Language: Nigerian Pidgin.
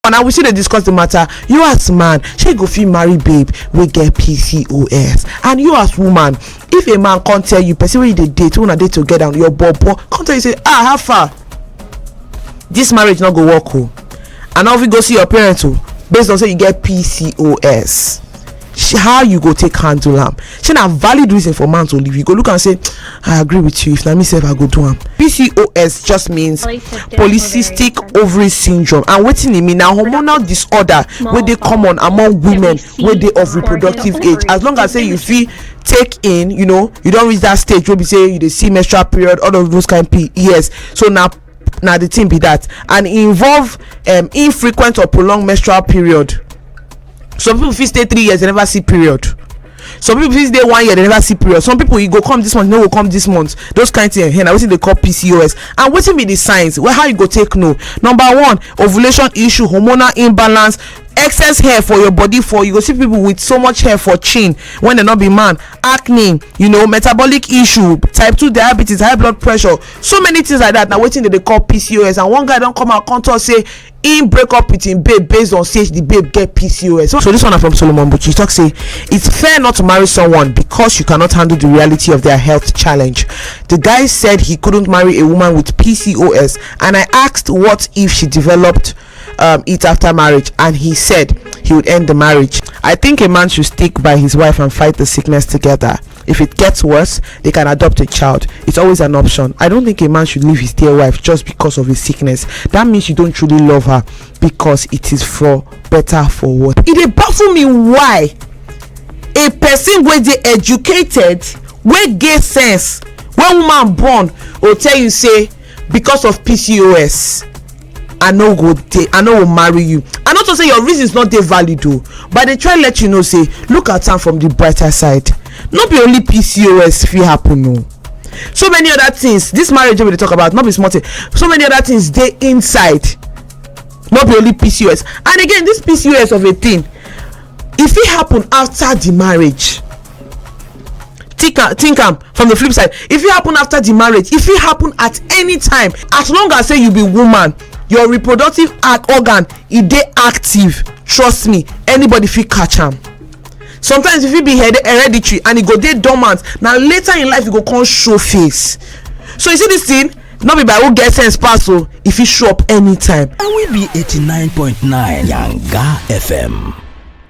and we still dey discuss the matter you as man shey you go fit marry babe wey get pcos and you as woman if a man come tell you person wey you dey date una dey together your bobo come tell you say ah how far this marriage no go work o and now if you go see your parents o based on say you get pcos how you go take handle am shey na valid reason for man to leave you go look am say i agree with you if na me sef i go do am pcos just means polycystic ovary syndrome and wetin e mean na hormonal disorder wey dey common among women wey dey of reproductive age as long as say you fit take in you know you don reach that stage wey be say you dey see menstrual period all of those kind p yes so na na the thing be that and e involve um, infrequent or prolonged menstrual period some people fit stay three years they never see period some people fit stay one year they never see period some people e go come this month no go come this month those kind thing ehn na wetin dey call pcos and wetin be the signs well how you go take know number one ovulation issue hormonal imbalance excess hair for your body for you go see people with so much hair for chin when dem no be man acne you know metabolic issue type two diabetes high blood pressure so many things like that na wetin dem dey call pcos and one guy don come out come talk say im break up with im babe based on say the babe get pcos so this one na from solomon buchi e talk say it's fair not to marry someone because you cannot handle the reality of their health challenge the guy said he couldn't marry a woman with pcos and i asked what if she developed um, it after marriage and he said he would end the marriage i think a man should stick by his wife and fight the sickness together If it gets worse, they can adopt a child. It's always an option. I don't think a man should leave his dear wife just because of a sickness. That means you don't truly love her because it is for better for what. It dey baffle me why a person wey dey educated wey get sense when woman born go tell you say because of pcos i no go dey i no go marry you i no talk say your reasons no dey valid o but i dey try let you know say look at am from the brighter side no be only pcos fit happen o so many other things this marriage wey we dey talk about no be small thing so many other things dey inside no be only pcos and again this pcos of a thing e fit happen after the marriage think am think am from the flip side e fit happen after the marriage e fit happen at any time as long as say you be woman your reproductive organ e dey active trust me anybody fit catch am sometimes e fit be hereditary and e go dey dormant na later in life e go come show face so you see this thing no be by who get sense pass o e fit show up anytime and we be 89.9 yanga fm